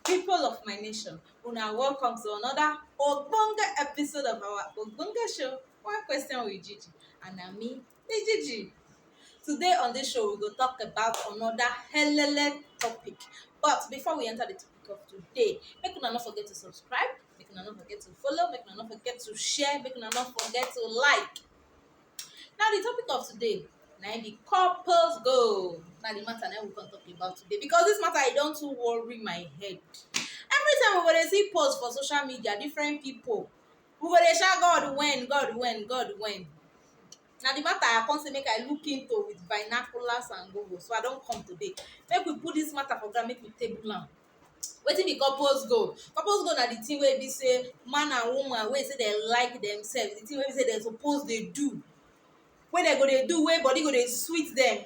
People of my nation, una welcome to another ogbonge episode of our ogbonge show, One Question with Gigi. And na me be Gigi. Today on this show, we go talk about another helele topic. But before we enter the topic of today, make una no forget to subscribe, make una no forget to follow make una no forget to share make una no forget to like now the topic of today na im be couples goal na the matter na we come talk about today because this matter e don too worry my head every time we go dey see post for social media different people we go dey shout god when god when god when na the matter i come say make i look into with binoculars and google so i don come today make we put this matter for ground make we table am Wetin be couples goal? Couples goal na the thing wey be say man and woman wey say dem like themselves, the thing wey be say dem suppose dey do, wey dem go dey do, wey body go dey sweet dem,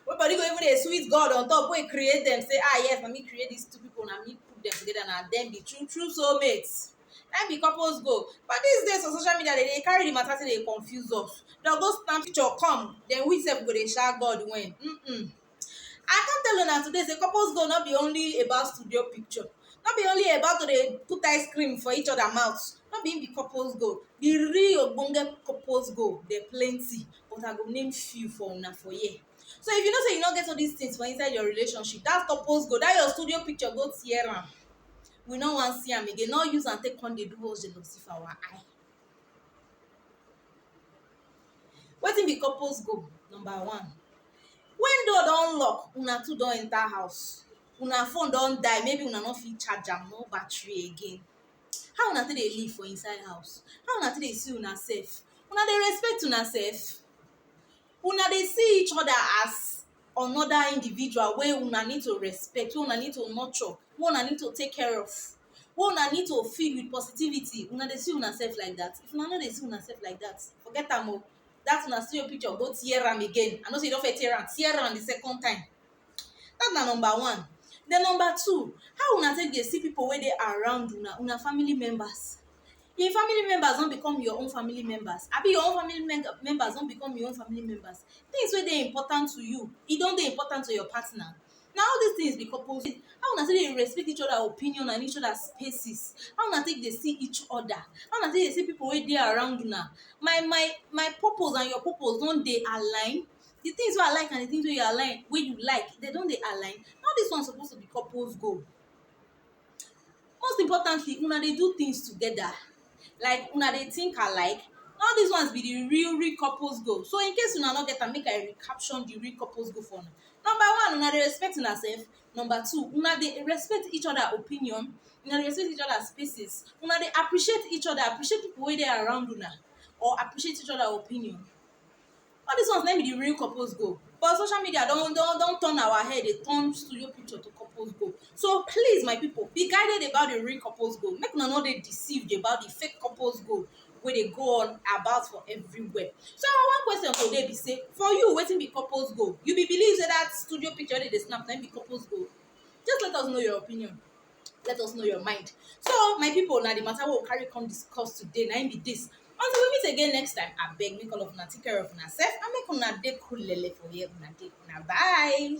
wey body go even dey sweet God on top wey create dem say ah yes na me create these two people, na me put dem together, na dem be true true soul mates. Na im be couples goal. But these days for social media dem dey carry the matter take dey confuse us. Dem go snap picture come, then we sef go dey sha God when um. I come tell una today say couples goal no be only about studio picture, no be only about to dey put ice cream for each other mouth, no be im be couples goal. The real ogbonge couples goal dem plenty but I go name few for una for here. So if you know say you no get all these things for inside your relationship, that couples goal, that your studio picture go tear am. We no wan see am again, no use am take come dey do us jealousy for our eye. Wetin be couples goal? Number one, when door don lock una two don enter house una phone don die maybe una no fit charge am no battery again how una take dey live for inside house how una take dey see una sef una dey respect una sef una dey see each other as another individual wey una need to respect wey una need to nurture wey una need to take care of wey una need to fill with positivity una dey see una sef like that if una no dey see una sef like that forget am o that una see your picture go tear am again i know say you don first tear am tear am the second time that na number one then number two how una take dey see people wey dey around una una family members im family members don become your own family members abi your own family mem members don become your own family members things wey dey important to you e don dey important to your partner na all dis things be coupleism how una take dey respect each other opinion and each other spaces how una take dey see each other how una take dey see people wey dey around una my my my purpose and your purpose don dey align the things wey I like and the things wey you align wey you like dem don dey align all dis one suppose to be couples goal most importantly una dey do things together like una dey think alike na all this ones be the real real couples goal so in case una no get am make I recaption the real couples goal for una number one una dey respect una self number two una dey respect each other opinion una dey respect each other spaces una dey appreciate each other appreciate people wey dey around una or appreciate each other opinion all dis ones na im be the real couples goal but social media don don don turn our head dey turn studio picture to couples goal so please my people be guided about the real couples goal make una no dey deceived about the fake couples goal wey dey go on about for everywhere so our one question today be say for you wetin be couples goal you be believe say that studio picture wey dey dey snap na im be couples goal just let us know your opinion let us know your mind so my people na the matter wey we carry come discuss today na im be this until we meet again next time abeg make all of una take care of una sef and make una dey cool lele for where una dey una bye.